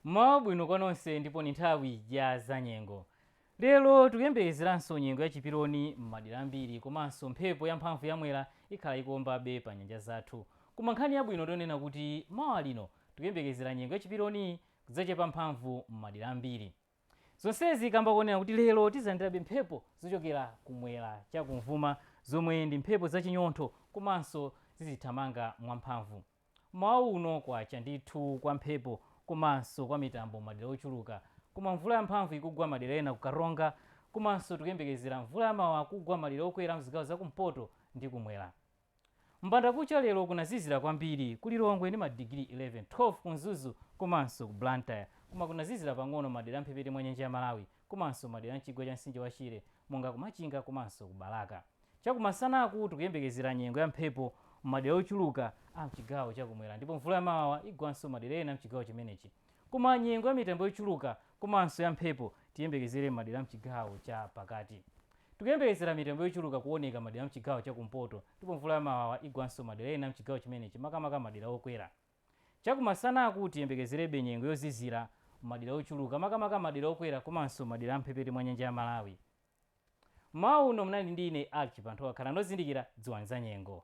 mmawa bwino kwa nonse ndipo ni nthawi ya zanyengo lero tikuyembekezeranso nyengo ya chiperoni m'madera ambiri komanso mphepo yamphamvu yamwera ikhala ikuombabe pa nyanja zathu koma nkhani yabwino ndi yonena kuti mawa lino tikuyembekezera nyengo ya chiperoni kudzachepa mphamvu m'madera ambiri Zonsezi kamba konena kuti lero tizalandirabe mphepo zochokera kumwera cha kumvuma zomwe ndi mphepo za chinyontho komanso zizithamanga mwa mphamvu. Mmawa uno kwacha ndithu kwa mphepo komanso kwa mitambo madera ochuluka koma mvula ya mphamvu ikugwa madera ena ku Karonga komanso tikuyembekezera mvula ya mawawa kugwa madera okwera mzigawo za kumpoto ndi kumwera. M'bandakucha lero kunazizira kwambiri ku Lilongwe ndi madigiri 11, 12 ku Mzuzu komanso ku Blantyre. Koma kunazizira pang'ono m'madera a m'mphepete mwa nyanja ya Malawi komanso m'madera a m'chigwa cha mtsinje wa Shire monga ku Machinga komanso ku Balaka. Chakumasanaku tikuyembekezera nyengo ya mphepo m'madera ochuluka a m'chigawo cha kumwera ndipo mvula yamawawa igwanso m'madera ena a m'chigawo chimenechi. Koma nyengo ya mitambo yochuluka komanso ya mphepo tiyembekezere m'madera a m'chigawo cha pakati. Tikuyembekezera mitambo yochuluka kuoneka madera a m'chigawo cha kumpoto ndipo mvula ya mawawa igwanso madera ena a m'chigawo chimenechi makamaka madera okwera. Chakumasanaku tiyembekezerebe nyengo yozizira m'madera ochuluka makamaka madera okwera komanso madera a m'mphepete mwa nyanja ya Malawi. M'mawa uno munali ndi ine Archie Panthowa. Khalani ozindikira, dziwani zanyengo.